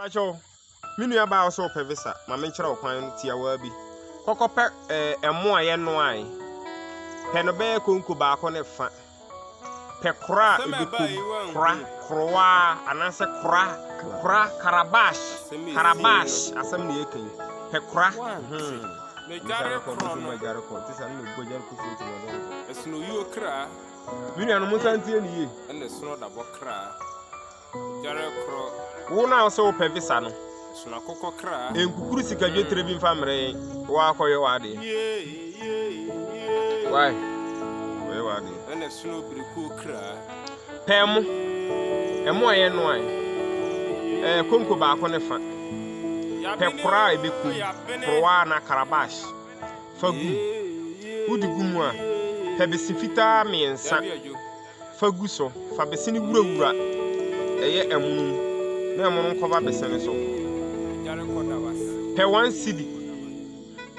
Pacho, me nua baa ɔsɛ ɔpɛ visa ma menkyerɛ wo kwan tiawaa bi kɔkɔ pɛ ɛɛ eh, ɛmo a yɛnoae pɛ no bɛyɛ konko baako ne fa pɛ kora a ebi kom kora korowa anaasɛ kora kora karabash karabash asɛm na yɛka yi pɛ kora hmm. megyare korɔ no ɛsɛ na oyi okra Me nuanom, monsan ntie no yie. Ɛne sono dabɔ kra. Dware korɔ. Wo na ɔsɛ wopɛ visa no. Sono akokɔ kra. Nkukuru sika dwetire bi mfa mmerɛ yɛn. Wɔakɔyɛ w'adeɛ. Why? Wɔyɛ w'adeɛ. Ɛne sono birikuo kra. Pɛɛ mo. Ɛmo a yɛn no ayɛ. Ɛɛ konko baako ne fa. Pɛ koraa a ɛbɛkum. Korowa na karabash. Fa gu. Wode gu mu a, pɛ bese fitaa mmiɛnsa fa gu so. Fa bese no wurawura ɛyɛ ɛmono mu na ɛmono nkɔba bese no so. Pɛ one cedi.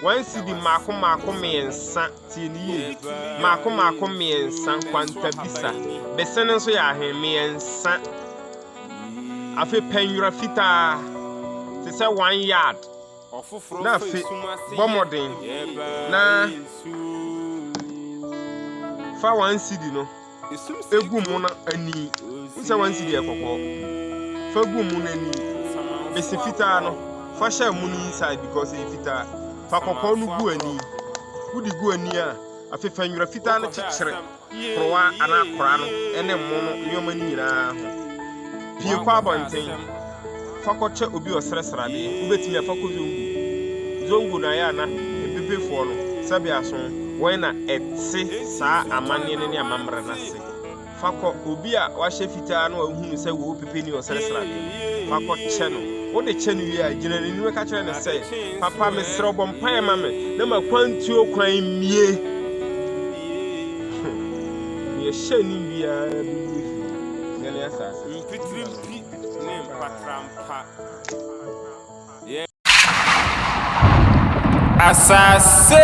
One cedi mmaako mmaako mmiɛnsa tie ne yie. Mmaako mmaako mmiɛnsa kwanta bisa. Bese no nso yɛ ahe mmiɛnsa. Afei pɛ nwera fitaa te sɛ one yard. na afe bɔ mmɔden na fa wɔn sidi no egu mu na ani nsɛ wɔn sidi yɛ kɔkɔɔ fa gu mu na ani besi fitaa no fa hyɛ mu no inside because ɛyɛ fitaa fa kɔkɔɔ no gu ani wodi gu ani a afefa nwura fitaa no kyekyere. korowa anaa kora no ne mmo no nneɛma no nyinaa ho. Pue kɔ abɔnten, fa kɔkyɛ obi ɔsrɛ sradeɛ, wobɛtumi afa kɔ Zongo. Zongo no ayɛ a na mpepefoɔ no, sɛbea so wɔn na ɛte saa amanneɛ no ne amammerɛ no ase. Fa kɔ obi a wahyɛ fitaa na wahu no sɛ wɔ pepe ni ɔsrɛ sradeɛ no, fa kɔkyɛ no. Wode kyɛ no wie a, gyina n'anim ka kyerɛ no sɛ, Papa, mesrɛ wo bɔ mpaeɛ ma me na m'akwantuo kwan mmue. Yɛhyɛ ne biara bi mu fi sɛ ne asase. Mfitiri mpi ne mpatra mpa. Yɛ. Asase.